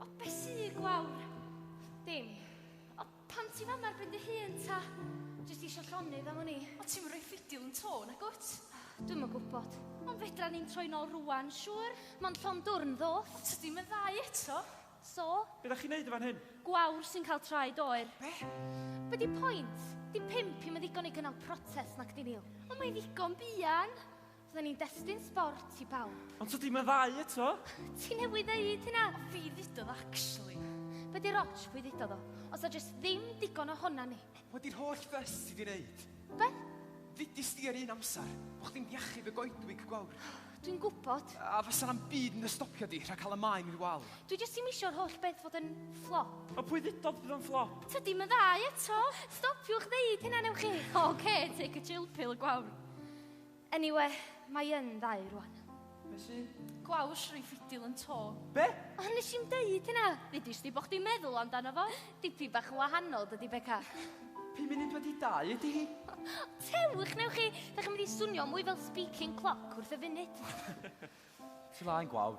O be sy gwawr? Dim. O pam ti fama ar ben dy hun ta? Jyst isio llonydd am wn i. O ti'm yn rhoi ffidil yn to nagwt? Dwi'm yn gwybod. Ond fedra ni'n troi nôl rwan, siŵr? Mond llond dwrn ddoth. O tydi'm yn ddau eto. So? Be dach chi'n neud yn fan hyn? Gwawr sy'n cael traed oer. Be? Be di pwynt? Di pump i'm yn ddigon i gynnal protest nacdi Neil? Ond mae'n ddigon buan. Fydden ni'n destun sbort i bawb. Ond tydi meddai eto. Ti newydd ddeud hynna. O fi ddudodd actually. Be di'r ots pwy ddudodd o? Os a jyst ddim digon o honna ni. Wel di'r holl ddys ti di neud. Beth? Ddudis di ar un amser. Bo chdi'n diachub y goedwig gwawr. Dwi'n gwybod. A fasa na'm byd yn dy stopio di rhag cael y maen i'r wal. Dwi jyst ddim isio'r holl beth fod yn fflop. O pwy ddudodd bydd o'n fflop? Tydi meddai eto. Stopiwch ddeud hynna newch chi. Oce, take a chill pill gwawr. Eniwe, mae yn dda i rwan. Be sy? Gwawsh, rei ffidil yn to. Be? O, nes i'm deud hynna! Ddudis di bo chdi'n meddwl amdano fo. Dipyn bach yn wahanol, dydi Beca? Pum munud wedi dau ydi hi. Tewch, newch chi! Dach chi'n mynd i swnio mwy fel speaking clock wrth y funud. Ti laen gwawr.